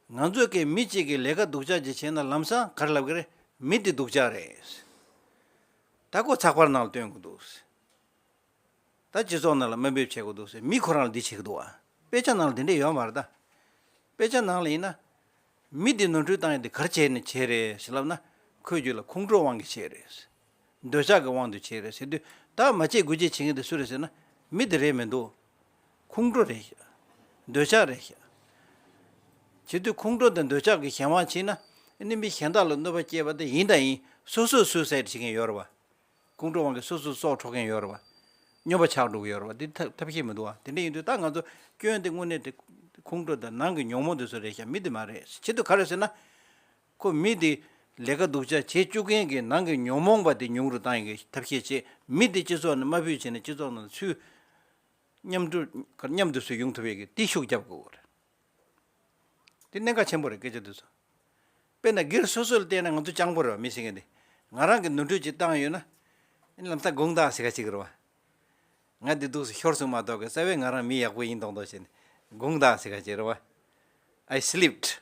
ང་ཚོས་ཀྱི་མི་གཅིག་གི་ལས་ཀ་སྡུག་ཅག་ཅིག་བྱས་ན་ལམ་སང་གར་ལབ་གི་རེད་མི་དེ་སྡུག་ཅག་རེད། ད་ཁོ་ཚགས་པར་ནང་ལ་སྟོན་གི་འདུག། ད་སྤྱི་ཚོགས་ནང་ལ་དམའ་འབེབས་བྱེད་གི་འདུག་མི་ཁོ་རང་ལ་འདི་བྱེད་གི་འདུག་ཨ། དཔེ་ཆ་ནང་ལ་དེ་འདྲས་ཡོད་མ་རེད་ད། དཔེ་ཆ་ནང་ལ་ཡིན་ན། མི་དེ་ནོར་འཁྲུལ་བཏང་ཡོད་དེ་གར་བྱས་ནས་བྱས་རེད་ཞེས་ལབ་ན་ཁོས་རྒྱུད་ལ་ཁུངས་དཀྲོལ་དབང་གིས་བྱས་རེད། འདོད་ཆགས་ཀྱི་དབང་དུ་བྱས་རེད་ཟེར་དུས་ད་མ་བྱེད་དགོས་ཅེས་བྱེད་མཁན་དེ་སུ་རེད་ཟེར་ན། མི་དེ་རེད་མི་འདུག། ཁོང་ཁྲོ་རེད། འདོད་ཆགས་རེད། བྱེད་དུས་ཁོང་ཁྲོ་དང་འདོད་ཆགས་ཀྱི་གཞན་དབང་བྱས་ན། ནི་མི་གཞན་དག་ལ་གནོད་པ་བསྐྱལ་བ་དེ་ཡིན་དང་ཡིན་སོ་སོས་སུའི་སའི་བྱེད་མཁན་ཡོད་རེད་བ། ཁོང་ཁྲོའི་དབང་གིས་སོ་སོས་སྲོག་འཕྲོག་མཁན་ཡོད་རེད་བ། སྨྱོན་པ་ཆགས་འགྲོ་གི་ཡོད་རེད་བ་དེ་ཐབས་ཤེས་མི་འདུག་བ་དེ་འདྲ་ཡིན་དུས་ད་ང་ཚོ་སྐྱོན་དེ་དངོས་གནས་དེ་ཁོང་ཁྲོ་དང་ནང་གི་ཉོག་མོ་དེ་ཚོ་རེད་ཤག་མི་དེ་མ་རེད་བྱེད་དུས་ག་རེད་ཟེར་ན། ཁོ་མི་དེ་ལས་ཀ་སྡུག་ཅག་བྱེད་བཅུག་མཁན་གྱི་ནང་གི་ཉོང་མོངས་པ་དེ་ཉུང་རུ་གཏང་ཡི་ཐབས་ཤེས་བྱེད་མི་དེ་སྤྱི་ཚོགས་ནང་དམའ་འབུད་བྱས་ནས་སྤྱི་ཚོགས་ནང་ཚུལ་མཉམ་སྒྲུབ་མཉམ་དུ་སུས་ཡོང་ཐུབ་ཡོད་ཀྱི་དེ་ཤུགས་རྒྱབ་དགོས་རེད། དེ་གནད་འགག་ཆེན་པོ་རེད་སྐད་ཆ་འདི་ཚོ། དཔེར་ན་སྒེར་སོ་སོ་ལ་བལྟས་ན་ང་ཚོ་སྤྱང་པོ་རེད་བ་མི་ཟེར་མཁན་དེ་ང་རང་གི་ནོར་འཁྲུལ་གྱི་བཏང་ཡོད་ན། ཨེ་ལམ་སྟག་དགུང་སྟག་ཟེར་ཁ་ཅིག་རེད་བ། ང་དེ་སྡུག་སུ་ཤོར་སོང་མ་གཏོགས་གི་རྩ་བའི་ང་རང་མི་ཡག་པོ་ཡིན་མདོག་མདོག་བྱས་ནས་དགུང་སྟག་ཟེར་ཁ་ཅིག་རེད་བ། I slipped།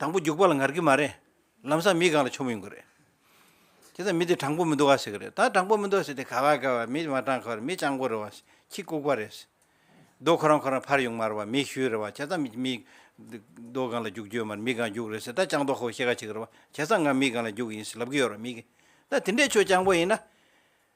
དང་པོ་རྒྱུག་པ་ལ་ངར་གི་མ་རེད། ལམ་སང་མི་གང་ལ་ཆོ་མི་ཡོང་གི་རེད། དེ་ཚ་མི་དེ་དྲང་པོ་མི་འདུག་ག་ཟེར་གི་རེད། ད་དྲང་པོ་མི་འདུག་ཟེར་དེ་ག་བ་ག་བ་མི་མ་དྲང་གི་བ་རེད་མི་སྤྱང་པོ་རེད་བ། ཁྱི་ལྐུག་པ་རེད། རྡོ་ཁོ་རང་ཁོ་རང་ཕར་ཡོང་མར་བ་མི་ཞུས་རེད་བ་ཁྱེད་ཚ་མི་མི། རྡོ་གང་ལ་རྒྱུག་རྒྱུ་ཡོད་མར་མི་གང་རྒྱུག་རེད་ཟེར་ད་སྤྱང་རྡོ་ཁོ་བོ་ཤེས་ག་བྱེད་གི་རེད་བ་ཁྱེད་ཚ་ང་མི་གང་ལ་རྒྱུག་གི་ཡིན་ཟེར་ལབ་གི་ཡོད་རེད་མི་གི། ད་དེ་འདྲས་ཁྱོད་སྤྱང་པོ་ཡིན་ན།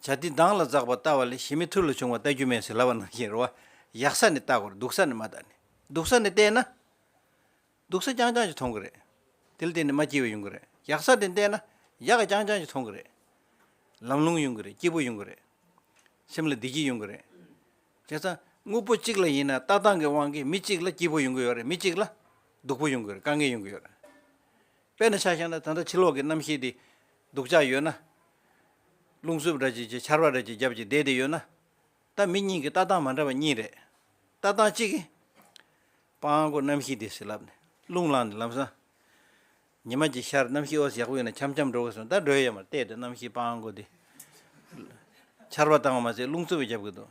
བྱ། འདི་མདངས་ལ་འཛག་པར་བལྟ་བ་ལས་ཞི་མི་ཐུར་ལ་བྱུང་བ་བལྟ་རྒྱུ་མེད་ཟེར་ལབ་པ་ནང་བཞིན་རོ། གཡག་ས་ནས་བལྟ་དགོས་རེད་སྡུག་ས་ནས་མ་བལྟ་ནས། སྡུག་ས་ནས་བལྟས་ན། སྡུག་ས་རྐྱང་རྐྱང་ཞིག་མཐོང་གི་རེད། དེ་ལ་བརྟེན་ནས་མ་སྐྱིད་པ་ཡོང་གི་རེད། གཡག་ས་ནས་བལྟས་ན། གཡག་རྐྱང་རྐྱང་ཞིག་མཐོང་གི་རེད། ལམ་ལྷུང་ཡོང་གི་རེད་སྐྱིད་པོ་ཡོང་གི་རེད། སེམས་ལ་བདེ་སྐྱིད་ཡོང་གི་རེད། བྱས་ཙང། དངོས་པོ་གཅིག་ལ་ཡིན་ན་ལྟ་སྟངས་ཀྱི་དབང་གིས་མི་གཅིག་ལ་སྐྱིད་པོ་ཡོང་གི་ཡོད་རེད་མི་གཅིག་ལ། སྡུག་པོ་ཡོང་གི་རེད་དཀའ་ངལ་ཡོང་གི་ཡོད་རེད། དཔེར་ན་ཆ་བཞག་ན་ད་ལྟ་ཕྱི་ལོགས་ཀྱི་རྣམ་ཤེས་དེ། སྡུག་ཅག་ཡོད་ན། རླུང་གཟུབ་ར་གཅིག་ཅེས་ཆར་བ་ར་གཅིག་རྒྱབ་ཀྱི་བདེ་དེ་ཡོད་ན། ལྟ་མི་གཉིས་ཀྱི་ལྟ་སྟངས་མ་འདྲ་བ་གཉིས་རེད། ལྟ་སྟངས་གཅིག་གིས། སྤང་སྒོ་གནམ་གཤིས་དེ་ཟིལ་ལབ་ནས་རླུང་ལངས་ནས་ལམ་སྲང། ཉི་མ་གྱི་ཤར་གནམ་གཤིས་ཨོ་ཡག་པོ་ཡོད་ན་འཁྱམ་འཁྱམ་འགྲོ་དགོས་སོང་ད་སྒྲོལ་ཡས་མར་བལྟས་དེ་གནམ་གཤིས་སྤང་སྒོ་དེ། ཆར་བ་བཏང་བ་མ་ཟད་རླུང་རྩུབ་བས་རྒྱབ་གི་འདུག།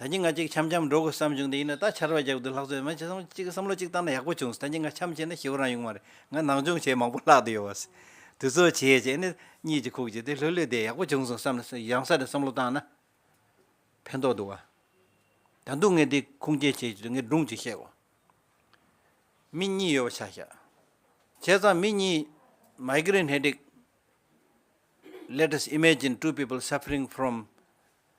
ད་ཀྱི་ང་གཅིག་འཆམ་འཆམ་འགྲོ་དགོས་བསམ་བྱུང་དེ་ཡིན་ན་ད་ཆར་བ་རྒྱག་དུས་ལྷག་བཟོས་མ་བྱས་སམ་གཅིག་བསམ་བློ་གཅིག་བཏང་ན་ཡག་པོ་བྱུང་སོང་ད་ཀྱི་ང་འཆམ་བྱས་ན་ཞི་བ་རང་ཡོང་མ་རེད་ང་ནང་སྦྱོང་བྱས་མང་པོ་ལྷག་དུ་ཡོད་བ། དུས་ཚོད་བྱས་བྱས་ནས་གཉིད་ཀྱི་ཁུག་ཅིག་དེ་ལྷོད་ལྷོད་དེ་ཡག་པོ་བྱུང་སོང་བསམ་ནས་རང་ས་ནས་བསམ་བློ་བཏང་ན་ཕན་ཐོག་འདུག་བ། ད་འདུག་ངས་དེ་ཁུངས་སྐྱེལ་བྱེད་ཀྱི་འདུག་ངས་སྒྲུང་གཅིག་བཤད་གོ། མི་གཉིས་ཡོད་པ་ཆ་བཞག་བྱས་ཙང་མི་གཉིས Migraine Headache Let us imagine two people suffering from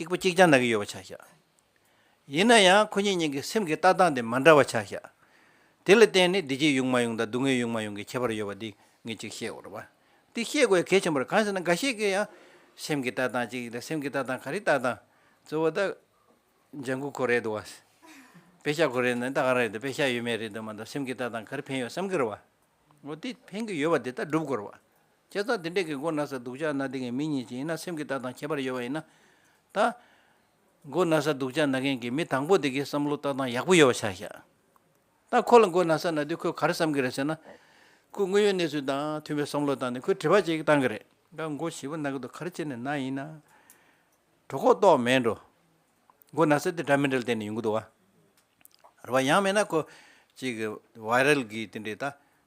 གཅིག་པོ་གཅིག་རྐྱང་ན་གི་ཡོད་པ་ཆ་བཞག་ཡིན་ན་ཡང་ཁོ་གཉིས་གཉིས་ཀྱི་སེམས་ཀྱི་ལྟ་སྟངས་དེ་མ་འདྲ་བ་ཆ་བཞག་དེ་ལ་བརྟེན་ནས་བདེ་སྐྱིད་ཡོང་མ་ཡོང་དང་སྡུག་བསྔལ་ཡོང་མ་ཡོང་གི་ཁྱད་པར་ཡོད་པ་དེ་ངས་ཅིག་བཤད་འོར་བ་དེ་ཤེས་དགོས་གལ་ཆེན་པོ་རེད་གང་ཟེར་ན་འགའ་ཤས་ཀྱི་ཡང་སེམས་ཀྱི་ལྟ་སྟངས་གཅིག་ཡིན་ལ་སེམས་ཀྱི་ལྟ་སྟངས་ག་རེ་ལྟ་སྟངས་གཙོ་བོ་ད་ལྗང་གུ་ཁོ་རེད་འདུག་བ། དཔེ་ཤ་ཁོ་རེད་འདུག་ད་ག་རང་རེད་འདུག་དཔེ་ཤ་ཡོད་མེད་རེད་འདུག་མ་འདུག་སེམས་ཀྱི་ལྟ་སྟངས་ག་རེ་ཕན་ཡོད་བསམ་གྱི་རེད་བ། འོ་དེ་ཕན་གྱི་ཡོད་བ་དེ་ལྟར་སྒྲུབ་དགོས་རེད་བ། བྱས་ཙང་དེ་འདྲས་ཀྱི་མགོ་ན་ས་སྡུག་ཅག་ན་དེ་ངའི་མི་ཉིད་ཅིག་ཡིན་ན་སེམས་ཀྱི་རྟགས་དང་ཁྱད་པར་ཡོད་པ་ཡིན་ན། ད། མགོ་ན་ས་སྡུག་ཅག་ན་མཁན་གྱི་མི་དང་པོ་དེ་གའི་བསམ་བློ་རྟགས་དང་ཡག་པོ་ཡོད་པ་ཆགས་ཤག། ད་ཁོ་ལ་མགོ་ན་ས་ན་དུས་ཁོས་ག་རེ་བསམ་གྱི་རེད་ཟེར་ན། ཁོས་དངོས་ཡོད་གནས་ཚུལ་དང་མཐུན་པའི་བསམ་བློ་བཏང་ནས་ཁོས་དྲི་བ་ཅིག་བཏང་གི་རེད། ད་མགོ་བཞི་པོ་ན་གི་འདུག་ག་རེ་བྱས་ནས་ན་ཡིན་ན། གྲོ་ཁོག་ཏོག་མེད་འགྲོ། མགོ་ན་ས་དེ་འདྲ་མི་འདྲ་ལ་བལྟས་ནས་ཡོང་གི་འདུག་བ། རེད་བ། ཡང་མེད་ན་ཁོ། ཅིག། Viral། གིས་དེ་འདྲས་ད།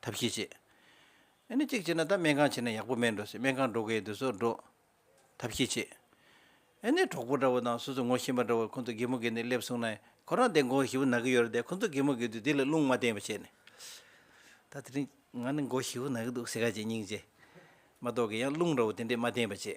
ཐབས་ཤེས་བྱེད། ཨེ་ནི་གཅིག་བྱས་ན་ད་སྨན་ཁང་བྱས་ན་ཡག་པོ་མེད་འགྲོ་སྲིད་སྨན་ཁང་འགྲོ་གི་ཡོད་དུས་སོགས་འགྲོ། ཐབས་ཤེས་བྱེད། ཨེ་ནི་གྲོགས་པོ་འདྲ་བོ་དང་སོ་སོ་ངོ་ཤེས་མ་འདྲ་བོ་ཁོང་ཚོ་དགེ་མོ་དགེ་ནས་སླེབས་སོང་ན་ཁོ་རང་དེ་མགོ་ཞི་བོ་ན་གི་ཡོད་རེད་དེ་ཁོང་ཚོ་དགེ་མོ་དགེ་དུས་དེ་ལ་རླུང་མ་བསྟན་པ་བྱས་ནས། ད་དེ་རིང་ང་ནི་མགོ་ཞི་བོ་ན་གི་འདུག་ཟེར་ག་ཅེས་སྙིང་རྗེ་མ་གཏོགས་ཀི་ཡང་རླུང་འདྲ་བོ་དེ་འདྲས་མ་བསྟན་པ་བྱས།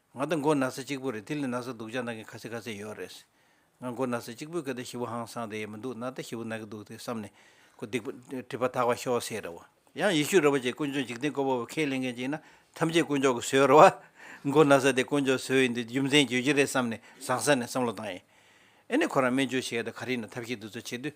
ང་ད་མགོ་ན་ས་གཅིག་པུ་རེད་དེ་ལས་ན་ས་སྡུག་ཅག་ན་གི་ཁ་ཚེ་ཁ་ཚེ་ཡོད་རེད། ང་མགོ་ན་ས་གཅིག་པུའི་སྐད་ད་ཞི་བོ་ཧང་སང་དེ་ཡེ་མི་འདུག་ན་ད་ཞི་བོ་ན་གི་འདུག་དེ་བསམ་ནས། ཁོ་སྡིག་པ། སྒྲིབ་པ་དག་པ་ཤོག་ཟེར་རེད་བ། ཡང་ཡེ་ཤུ་རེད་བ་བཅས་དཀོན་མཆོག་འཇིག་རྟེན་ཀོ་བ་བོ་ཁས་ལེན་མཁན་གཅིག་ན་ཐམས་ཅད་དཀོན་མཆོག་གི་ཟོལ་རེད་བ། མགོ་ན་ས་དེ་དཀོན་མཆོག་ཟོལ་ཡིན་དུས་རྒྱུ་མཚན་བརྗོད་ཀྱི་རེད་བསམ་ནས་བཟང་ས་ནས་བསམ་བློ་བཏང་ཡིན། ཨེ་ནས་ཁོ་རང་སྨན་བཅོས་བྱས་ཡོད་ད་ག་རེ་ཡིན་ན་ཐབས་ཤེས་འདི་ཚོ་བྱེད་དུས།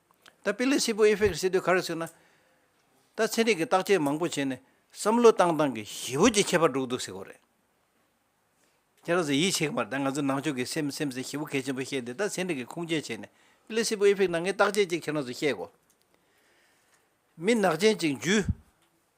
ད་པི་ལི་སི་པོ་ཨི་ཧྥེ་ཀི་སི་སྡོད་ག་རེ་ཟིག་ན། ད་ཚན་རིག་གི་བརྟག་དཔྱད་མང་པོ་བྱས་ནས་བསམ་བློ་བཏང་བཏང་གི་ཞི་བོ་ཅིག་ཁྱད་པར་འགྲོ་གི་འདུག་ཟེར་གོ་རེད། ཁྱེད་རང་ཚོ་ཡིད་ཆེས་གི་མ་རེད་ད་ང་ཚོ་ནང་ཆོས་གི་སེམས་སེམས་ཟེར་ཞི་བོ་གལ་ཆེན་པོ་བཤད་དེ་ད་ཚན་རིག་གི་ཁུངས་སྐྱེལ་བྱས་ནས་པི་ལི་སི་པོ་ཨི་ཧྥེ་ཀི་ནང་ངའི་བརྟག་དཔྱད་ཅིག་ཁྱེད་རང་ཚོ་བཤད་གོ། མི་ནག་ཅན་ཅིག་འཇུས།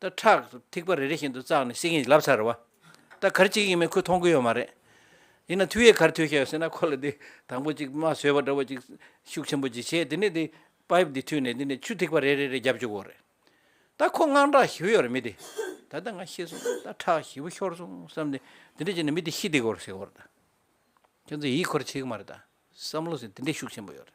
ད་ཁྲག་ཐིགས་པ་རེ་རེ་བཞིན་དུ་བཙགས་ནས་བསྲེགས་ཡིན་ལབ་ཚར་བ། ད་གར་གཅིག་ཡིན་མིན་ཁོས་མཐོང་གི་ཡོད་མ་རེད། ཡིན་ན་མཐུ་ཡས་གར་ཐོས་ཤག་ཡོད་ཟེར་ན་ཁོ་ལ་དེ་དང་པོ་ཅིག་རྨ་བཟོས་པ་འདྲ་བོ་ཅིག་ཤུགས་ཆེན་པོ་ཅིག་བྱས་དེ་ནས་དེ Pipe འདི་མཐུད་ནས་དེ་ནས་ཆུ་ཐིགས་པ་རེ་རེ་རེ་བརྒྱབ་བཅུག་གོ་རེད། ད་ཁོ་དངངས་སྐྲག་ཞི་བོ་ཡོད་རེད་མི་དེ། ད་ལྟ་ང་ཤི་སོང་ད་ཁྲག་ཞི་བོ་ཤོར་སོང་བསམ་ནས་དེ་འདྲ་བྱས་ནས་མི་དེ་ཤི་བསྡད་གོ་རེད་ཟེར་གོ་རེད་ད། ཁྱོད་ཚོ་ཡིད་འཁོར་བྱེད་གི་མ་རེད་ད། བསམ་བློ་ཟེར་དེ་འདྲའི་ཤུགས་ཆེན་པོ་ཡོད་རེད།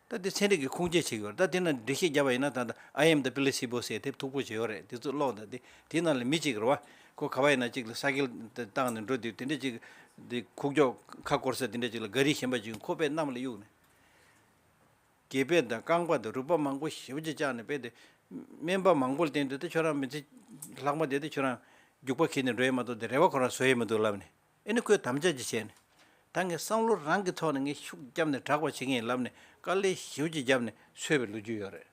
ད་དེ་ཚན་རིག་གི་ཁུངས་སྐྱེལ་བྱེད་གི་ཡོད་རེད་ད་དེ་ནང་འགྲེལ་བཤད་རྒྱབ་པ་ཡིན་ན་ད་ད IM དང Placebo སེ་དེབ་མཐུག་པོ་བྱས་ཡོད་རེད་དེ་ཚོ་ཀློག་ད་དེ་དེའི་ནང་ལ་མི་གཅིག་གི་རེད་བ། ཁོ་ག་བ་ཡིན་ན་གཅིག་ལ་ས་སྐལ་བཏང་ནས་འགྲོ་དེ་དེ་འདྲ་གཅིག་གི། དེ་ཁུག་ཀྱོག་ཁ་བསྐོར་ས་དེ་འདྲ་གཅིག་ལ་འགའ་རིས་གཞན་པ་གཅིག་ཁོ་པས་གནམ་ལ་གཡུག་ནས། དགེ་བེད་དང་རྐང་པ་དང་རུས་པ་མང་པོ་ཞིབ་ཅིག་བཅག་ནས་སྤེལ་དེ། སྨན་པ་མང་པོ་ལ་བསྟན་དེ་ད་ཁྱོད་རང་མི་ཚེ། ལྷག་མ་དེ་ད་ཁྱོད་རང། རྒྱུག་པ་ཁེལ་ནས་འགྲོ་ཡས་མ་གཏོགས་དེ་རེ་བ་ཁོ་རང་བཟོ་ཡས་མི་འདུག་ལབ་ནས། ཨེ་ནི་ཁོས་དམ་བཅའ་ཅིག་བྱས་ནས། ད་ངས་བསམ་བློ་རང་གི་ཐོག་ནས་ངས་ཤུགས་ཀྱིས་བརྒྱབ་ནས་བསྒྲགས་པ་བྱེད་ཀྱི་ཡིན་ལབ་ནས་དཀའ་ལས་ཞིབ་ཀྱིས་བརྒྱབ་ནས་འཚོལ་བའི་ལོ་རྒྱུས་ཡོད་རེད།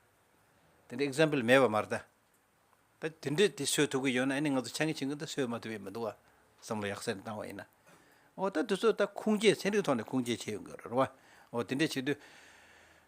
དེ་འདྲའི example མེད་པ་མ་རེད། ད་དེ་འདྲས་དེ་སོས་ཐུབ་ཀྱི་ཡོད་ན་ཨེ་ནི་ང་ཚོ་ཆ་ངེས་བྱེད་མཁན་ད་སོས་མ་ཐུབ་ཡོད་མི་འདུག་བ། བསམ་བློ་ཡག་ཟེར་ནས་བཏང་བ་ཡིན་ན། འོ་ད་དེ་ཚོ་ད་ཁུངས་སྐྱེལ་ཚན་རིག་ཐོག་ནས་ཁུངས་སྐྱེལ་བྱས་ཡོང་གི་ཡོད་རེད་བ། འོ་དེ་འདྲས་བྱེད་དུས།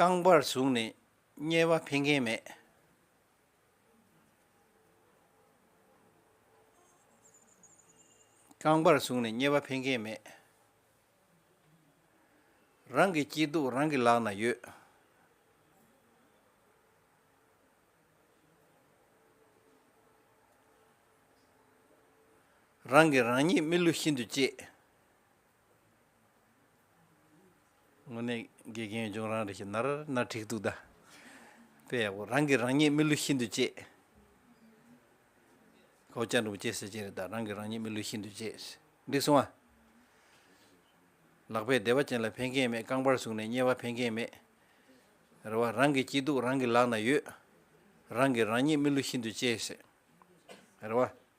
རྐང་པར་ཟུག་ནས་དམྱལ་བ་འཕེན་མཁན་མེད། རྐང་པར་ཟུག་ནས་དམྱལ་བ་འཕེན་མཁན་མེད། རང་གི་སྐྱིད་སྡུག་རང་གི་ལག་ན་ཡོད། རང་གིས་རང་ཉིད་རྨི་ལུས་ཤིན་ཏུ་གཅེས། དངོས་གནས་དགེ་རྒན་ཡོད་ཅུང་རང་རེ་ཞིག་ནར་ནར་འཁྲིག་འདུག་ད་དཔེ་ཡག་པོ་རང་གིས་རང་ཉིད་མི་བསླུ་ཤིན་ཏུ་གཅེས། ཁོ་བཅར་འདུག་བཅད་ཟེར་གཅིག་རེད་ད་རང་གིས་རང་ཉིད་མི་བསླུ་ཤིན་ཏུ་གཅེས། འགྲིག་སོང་ཨ། ལག་པས་བདེ་བ་ཅན་ལ་ཕན་ཁེ་མེད་རྐང་པར་ཟུག་ནས་བསྙལ་བ་ཕན་ཁེ་མེད། རེ་བ་རང་གི་སྐྱིད་སྡུག་རང་གི་ལག་ན་ཡོད། རང་གིས་རང་ཉིད་མི་བསླུ་ཤིན་ཏུ་གཅེས། རེ་བ།